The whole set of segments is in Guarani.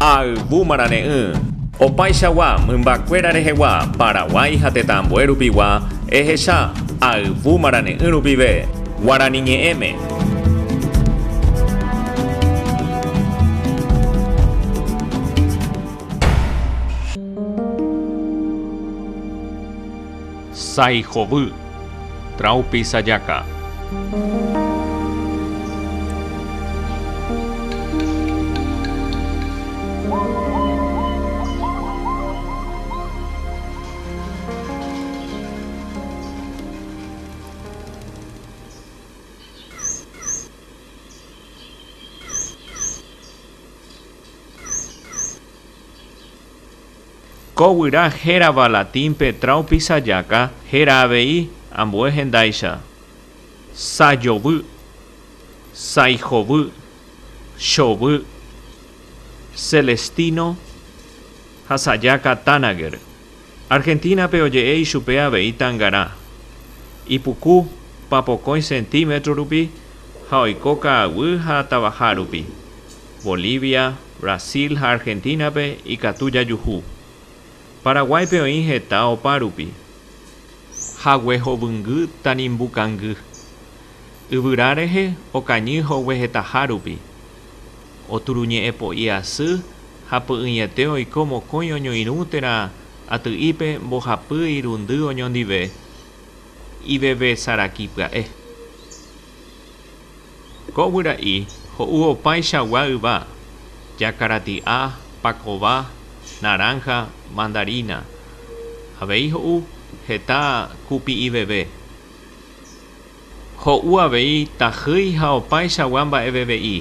Ha ayvu marane'ỹ. Opaichagua mymbakuéra rehegua Paraguái ha tetãambue rupigua ehecha ayvu marane'ỹ rupive Guarani ñe'ẽme. Sái hovy. Traupi sajaka. Ko guyra hérava latínpe Traupisajaca héra avei ambue hendáicha, Sajovy, Saijovy, Chovy, Celestino ha Sajaca Tanager. Argentina-pe oje'e ichupe avei tangarã. Ipuku papokõi centímetro rupi ha oiko ka'aguy ha tavaha rupi. Bolivia. Brasil ha Argentina-pe ikatu jajuhu. Paraguáipe oĩ heta opárupi. Hague hovyngy tanimbu kangy. Yvyra rehe okañy hogue hetaha rupi. Oturuñe'ẽ po'i asy ha py'ỹiete oiko mokõi oñoirũ térã aty'ípe mbohapy irundy oñondive ivevesaraki pya'e. Ko yvyra'i ho'u opaichagua yva, jakarati'a, pakova, naranja, mandarina. Avei ho'u heta kupi'iveve. Ho'u avei tajýi ha opaichagua mba'eveve'i.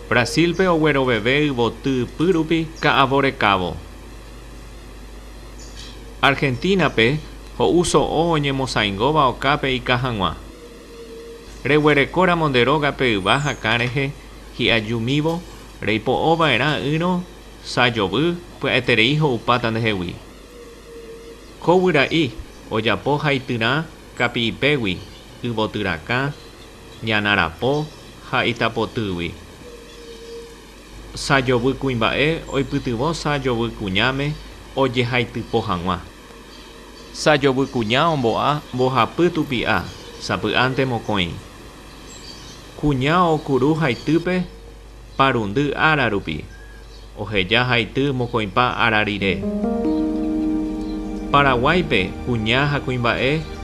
Brasil-pe ogueroveve yvoty ypýrupi ka'avo rekávo. Argentina-pe ho'u so'o oñemosaingóva okápe ika hag̃ua. Reguerekóramo nde rógape yva hakã rehe hi'ajumívo, reipo'ova'erã ỹrõ sa jovy pya'eterei ho'upáta ndehegui. Ko guyra'i ojapo haityrã kapi'ipégui yvotyrakã, ñanarapo ha itapotýgui. Sa jovy kuimba'e oipytyvõ sa jovy kuñáme ojehaitypo hag̃ua. Sajovy kuña ombo'a mbohapy tupi'a sapy'ánte mokõi. Kuña okuru haitýpe parundy ára rupi, oheja haity mokõipa ára rire. Paraguáipe kuña ha kuimba'e